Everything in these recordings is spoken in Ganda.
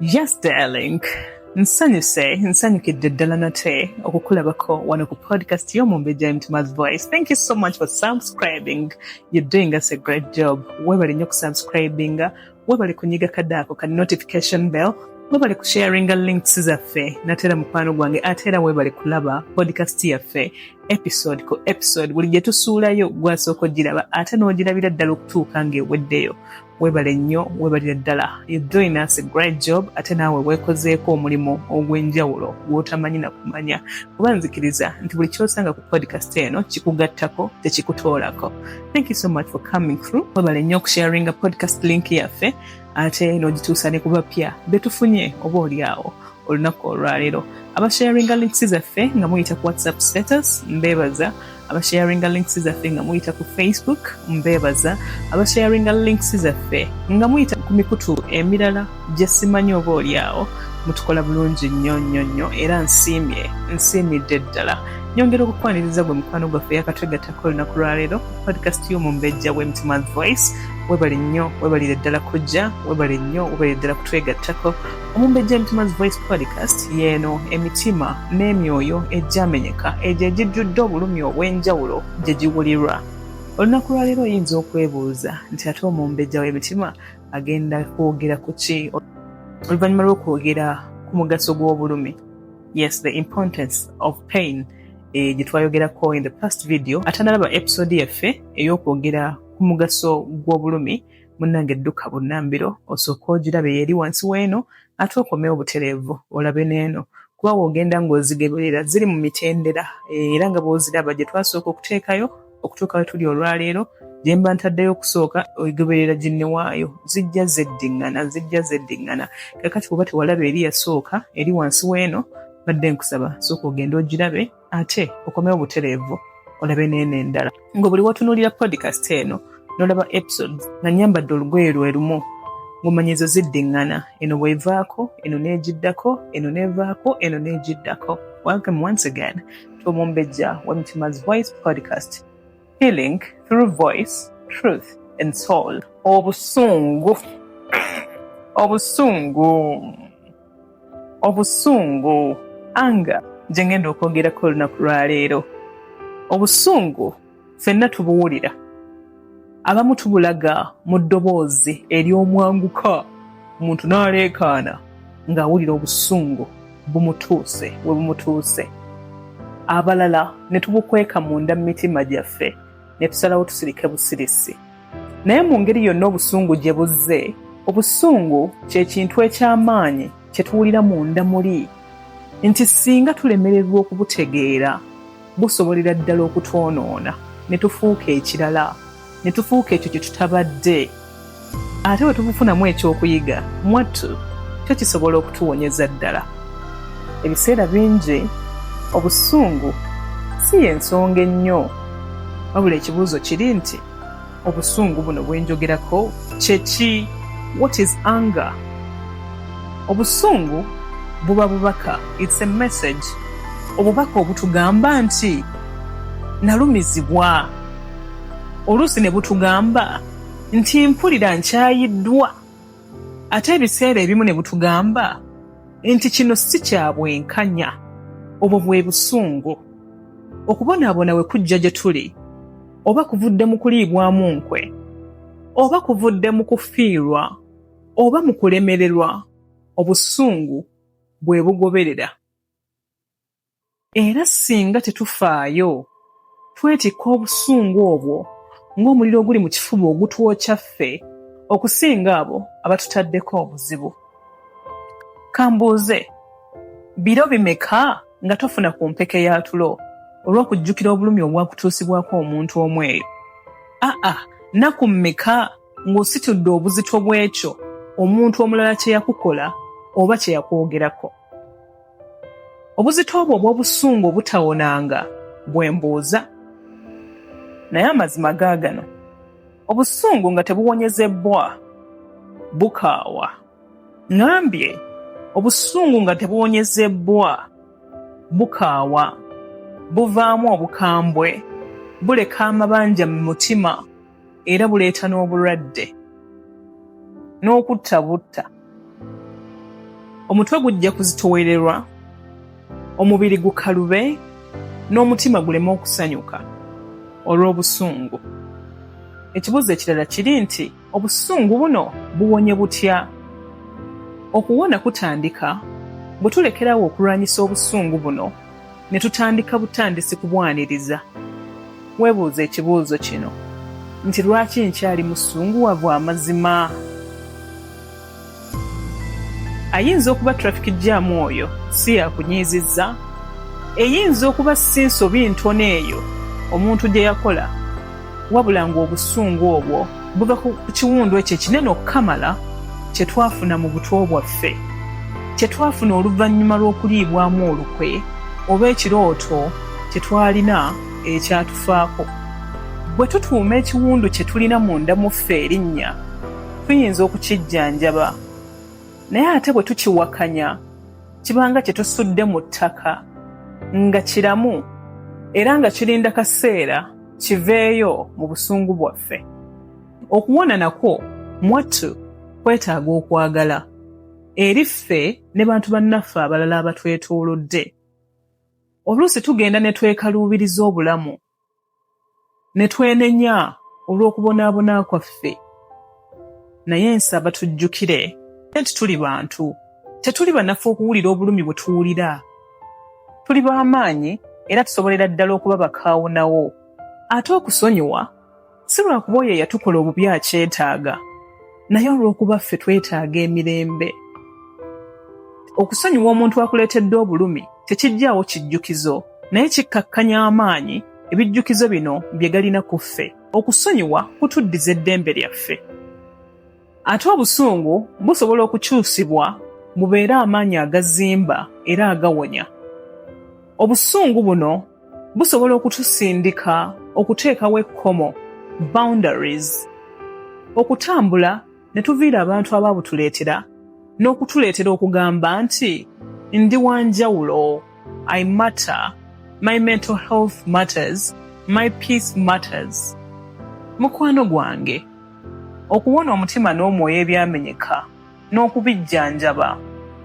Yes darling. Nsanyuse, nsanyukidde ddala nate okukulabako wano ku podcast y'omumbejja Mtuma's Voice. Thank you so much for subscribing. You're doing us a great job. Webale nnyo kusubscribinga, webale kunyiga kadaako ka notification bell webale kusharinga links zaffe natera mukwano gwange ate era webale kulaba podcast yaffe episode ku episode buli gye tusuulayo gwasooka ogiraba ate n'ogirabira ddala okutuuka ng'eweddeyo webale nnyo webalire ddala you doing us a great job ate naawe weekozeeko omulimu ogw'enjawulo gw'otamanyi na kumanya kuba nzikiriza nti buli kyosanga ku podcast eno kikugattako tekikutoolako thank you so much for coming through webale nnyo okusharinga podcast link yaffe ate n'ogituusa ne kubapya betufunye oba oli awo olunaku olwaleero abasharinga links zaffe nga muyita ku whatsapp status mbeebaza abasharinga links zaffe nga muyita ku facebook mbebaza abasharinga links zaffe nga muyita ku mikutu emirala gyesimanyi oba olyawo mutukola bulungi nnyo nnyo nnyo era nsiimye nsiimidde ddala nyongera okukwaniriza gwe mukwano gwaffe yakatwegattako olunaku lwaleero podcast y'omumbejja w'emitima voice webale nnyo webalire ddala kujja webale nnyo webalire ddala kutwegattako Omumbejja Emitima's Voice Podcast yeeno emitima n'emyoyo egyamenyeka egyo egijjudde obulumi obw'enjawulo gye giwulirwa. Olunaku lwaleero oyinza okwebuuza nti ate omumbejja w'emitima agenda kwogera ku ki oluvannyuma lw'okwogera ku mugaso gw'obulumi. Yes, the importance of pain eh, gye twayogerako in the past video. Ate nalaba episode yaffe ey'okwogera ku mugaso gw'obulumi munange dduka bunnambiro osooka ogirabe yeeri wansi weeno ate okomewo butereevu olabe neeno kuba woogenda ng'ozigeberera ziri mu mitendera eh, era nga bw'oziraba gye twasooka okuteekayo okutuuka we tuli olwaleero gye mba ntaddeyo okusooka ogeberera ginne waayo zijja zeddiŋŋana zijja zeddiŋŋana kakati kuba tewalaba eri yasooka eri wansi weeno badde nkusaba sooka ogende ogirabe ate okomewo butereevu olabe neeno endala nga buli watunuulira podcast eno nolaba episodes nga nyambadde olugoye lwe lumu ng'omanya ezo ziddiŋŋana eno bwevaako eno n'egiddako eno n'evaako eno n'egiddako welcome once again to omumbejja wa mitima's voice podcast healing through voice truth and soul obusungu obusungu obusungu anga gye ngenda okwogerako olunaku lwaleero obusungu fenna tubuwulira abamu tubulaga mu ddoboozi ery'omwanguka omuntu n'aleekaana ng'awulira obusungu bumutuuse we bumutuuse abalala ne tubukweka munda mu mitima gyaffe ne tusalawo tusirike busirisi Naye mu ngeri yonna obusungu gye buzze, obusungu kye kintu eky'amaanyi kye tuwulira munda muli nti singa tulemererwa okubutegeera busobolera ddala okutwonoona ne tufuuka ekirala ne tufuuka ekyo kye tutabadde ate bwe tubufunamu ekyokuyiga mwattu kyo kisobola okutuwonyeza ddala ebiseera bingi obusungu si y'ensonga ennyo wabula ekibuuzo kiri nti obusungu buno bwenjogerako kyeki what is anger obusungu buba bubaka its a message obubaka obutugamba nti nalumizibwa oluusi ne butugamba nti mpulira nkyayiddwa ate ebiseera ebimu ne butugamba nti kino si kya bwenkanya obwo bwe busungu okubonaabona we kujja gye tuli oba kuvudde mu kuliibwamu nkwe oba kuvudde mu kufiirwa oba mu kulemererwa obusungu bwe bugoberera era singa tetufaayo twetikka obusungu obwo ng'omuliro oguli mu kifuba ogutwokya ffe okusinga abo abatutaddeko obuzibu kambuuze biro bimeka nga tofuna ku mpeke ya tulo olw'okujjukira obulumi obwakutuusibwako omuntu omu eyo aa naku mmeka ng'ositudde obuzito bw'ekyo omuntu omulala kye yakukola oba kye yakwogerako Obuzito obwo obw'obusungu obutawonanga bwe mbuuza. Naye amazima gaagano, obusungu nga tebuwonyezebbwa bukaawa. Ŋambye obusungu nga tebuwonyezebbwa bukaawa, buvaamu obukambwe, buleka amabanja mu mutima. era buleeta n'obulwadde n'okutta butta omutwe gujja kuzitowererwa omubiri gukalube n'omutima guleme okusanyuka olw'obusungu ekibuuzo ekirala kiri nti obusungu buno buwonye butya okuwona kutandika bwe tulekerawo okulwanyisa obusungu buno ne tutandika butandisi kubwaniriza. Weebuuze ekibuuzo kino nti lwaki nkyali musunguwavu amazima? Ayinza okuba traffic jam oyo si yakunyiizizza? Eyinza okuba si nsobi ntono eyo omuntu gye yakola? wabula ng'obusungu obwo buva ku kiwundu ekyo ekinene okukamala kye twafuna mu butwo bwaffe kye twafuna oluvannyuma lw'okuliibwamu olukwe oba ekirooto kye twalina ekyatufaako bwe tutuuma ekiwundu kye tulina munda mu ffe erinnya tuyinza okukijjanjaba naye ate bwe tukiwakanya kibanga kye tusudde mu ttaka nga kiramu era nga kirinda kaseera kiveeyo mu busungu bwaffe okuwona nakwo mwattu kwetaaga okwagala eri ffe ne bantu bannaffe abalala abatwetoolodde oluusi tugenda ne twekaluubiriza obulamu ne twenenya olw'okubonaabona kwaffe naye nsaba tujjukire nti tuli bantu tetuli banafu okuwulira obulumi bwe tuwulira tuli b'amaanyi era tusobolera ddala okuba bakaawonawo ate okusonyiwa si lwakuba oyo eyatukola obubi akyetaaga naye olw'okuba ffe twetaaga emirembe okusonyiwa omuntu akuleetedde obulumi tekijjaawo kijjukizo naye kikkakkanya amaanyi ebijjukizo bino bye galina ku ffe Okusonyiwa kutuddiza eddembe lyaffe. Ate obusungu busobola okukyusibwa mubeere amaanyi agazimba era agawonya. Obusungu buno busobola okutusindika okuteekawo ekkomo, boundaries, okutambula ne tuviira abantu abaabutuleetera n'okutuleetera okugamba nti ndi wa njawulo i matter my mental health matters my peace matters mukwano gwange okuwona omutima n'omwoyo ebyamenyeka n'okubijjanjaba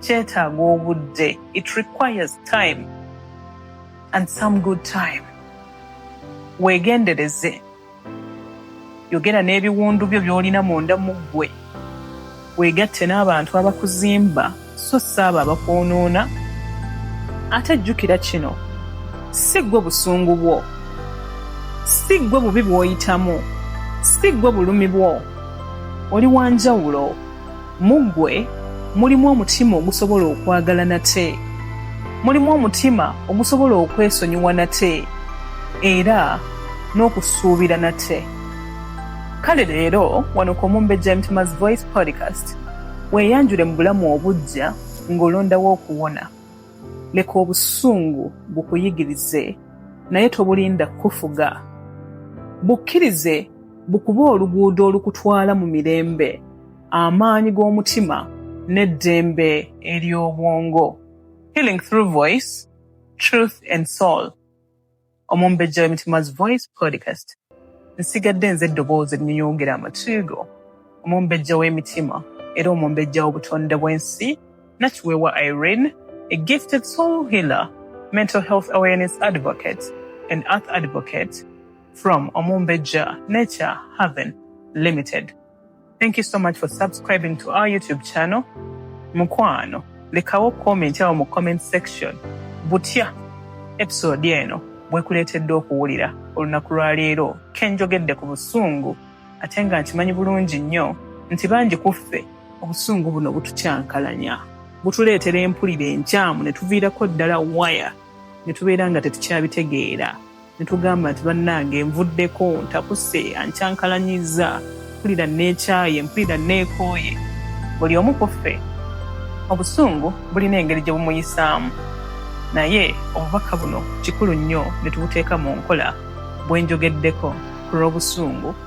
kyetaaga obudde it requires time and some good time weegendereze yogera n'ebiwundu byo by'olina munda mu ggwe weegatte n'abantu abakuzimba so si abo abakwonoona ate jjukira kino si ggwe busungu bwo si ggwe bubi bw'oyitamu si ggwe bulumi bwo oli wa njawulo Mu ggwe mulimu omutima ogusobola okwagala nate, mulimu omutima ogusobola okwesonyiwa nate, era n'okusuubira nate. Kale leero wano ku Omumbejja Mtima's Voice Podcast weeyanjule mu bulamu obuggya ng'olondawo okuwona. Leka obusungu bukuyigirize naye tobulinda kukufuga. Bukkirize bukube oluguudo olukutwala mu mirembe. amaanyi g'omutima n'eddembe ery'obwongo healing through voice truth and soul omumbejja w'emitima's voice podcast nsigadde nze eddoboozi erinyonyongera amatuugo omumbejja w'emitima era omumbejja w'obutonde bw'ensi nakiweewa irene a gifted soul healer mental health awareness advocate and earth advocate from omumbejja nature haven limited Thank you so much for subscribing to our YouTube channel. Mukwano, lekawo comment awo mu comment section. Butya episode eno bwekuleetedde okuwulira olunaku lwa leero kenjogedde ku busungu ate nga nkimanyi bulungi nnyo nti bangi ku ffe obusungu buno butukyankalanya butuleetera empulira enkyamu ne tuviirako ddala waya ne tubeera nga tetukyabitegeera. netugamba nti bannange nvuddeko ntakuse ankyankalanyiza mpulira neekyaye mpulira neekooye buli omu ku ffe obusungu bulina engeri gye bumuyisaamu naye obubaka buno kikulu nnyo ne tubuteeka mu nkola bwe njogeddeko ku lw'obusungu